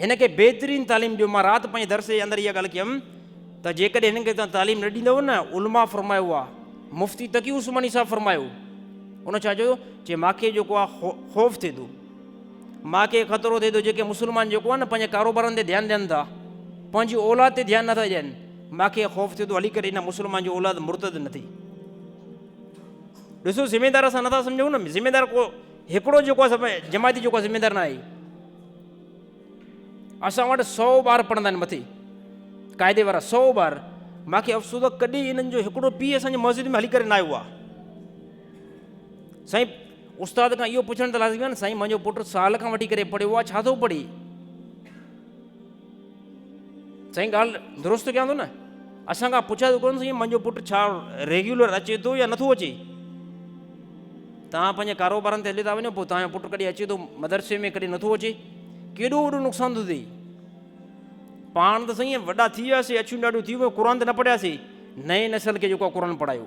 هن کي بهترين تعليم ڏيو. مان رات پنهنجي درس جي اندر اها ڳالهه ڪيم ته جيڪڏهن هنن کي توهان تعليم نه ڏيندؤ نه علماء فرمايو آهي مفتي تقي عثماني صاحب فرمايو ان ڇا چيو چي ماکي جيڪو آهي خوف ٿئي ٿو ماء کي خطرو ٿئي ٿو جيڪي مسلمان جيڪو آهي نه پنهنجي ڪاروبارن تي ڌيان ڏين ٿا پنهنجي اولاد تي ڌيان نٿا ڏين ماء کي خوف ٿئي ٿو هلي ڪري هن مسلمان جو اولاد مرتد نه ٿئي ڏسو ذميدار اسان نٿا سمجھون نه ذميدار کو هڪڙو جيڪو جماعتي جيڪو ذميدار نه آهي اسان وٽ سؤ ٻار پڙهندا آهن مٿي قاعدي وارا سؤ ٻار مانکي افسوس آ ڪڏي انن جو هڪڙو پي اسان جي مسجد ۾ هلي ڪري نه آيو آ سائين استاد کان اهو پڇڻ ته لازمي آ نه سائين منهنجو پٽ سال کان وٺي ڪري پڙهيو آ ڇا ٿو پڙهي سائين ڳالھ درست ڪيان ٿو نه اسان کان پڇا ٿو ڪون سائين منهنجو پٽ ڇا ريگيولر اچي ٿو يا نٿو اچي تان پنهنجي ڪاروبارن تي هلي ٿا وڃو پوء تان پٽ ڪڏي اچي ٿو مدرسي ۾ ڪڏي نٿو اچي ڪيڏو وڏو نقصان ٿو ٿئي پاڻ ته سائين وڏا ٿي وياسي اڇيون ڏاڍيون ٿي ويو قرآن ته نه پڙهياسي نئين نسل کي جيڪو قرآن پڙهايو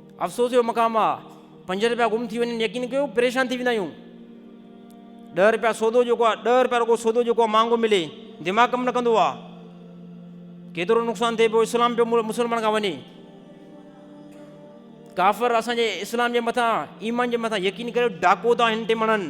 افسوس جو مقام آ پنج رپيا گم ٿي وڃن يقين ڪيو پريشان ٿي ويندا آهيون ڏهه رپيا سودو جيڪو آ ڏهه رپيا رڳو سودو جيڪو آ مهانگو ملي دماغ ڪم نه ڪندو آ ڪيترو نقصان ٿئي پيو اسلام پيو مسلمان کان وڃي ڪافر اسان جي اسلام جي مٿان ايمان جي مٿان يقين ڪريو ڊاڪو ٿا هن ٽمڻن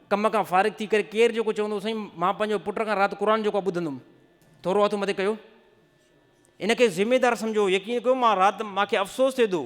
ڪم کان فارغ ٿي ڪري ڪير جيڪو چوندو سائين مان پنهنجو پٽ کان رات قرآن جيڪو آهي ٻڌندم ٿورو هٿ مٿي ڪيو ان کي ذميدار سمجهو يقين ڪيو مان رات مان کي افسوس ٿئي ٿو.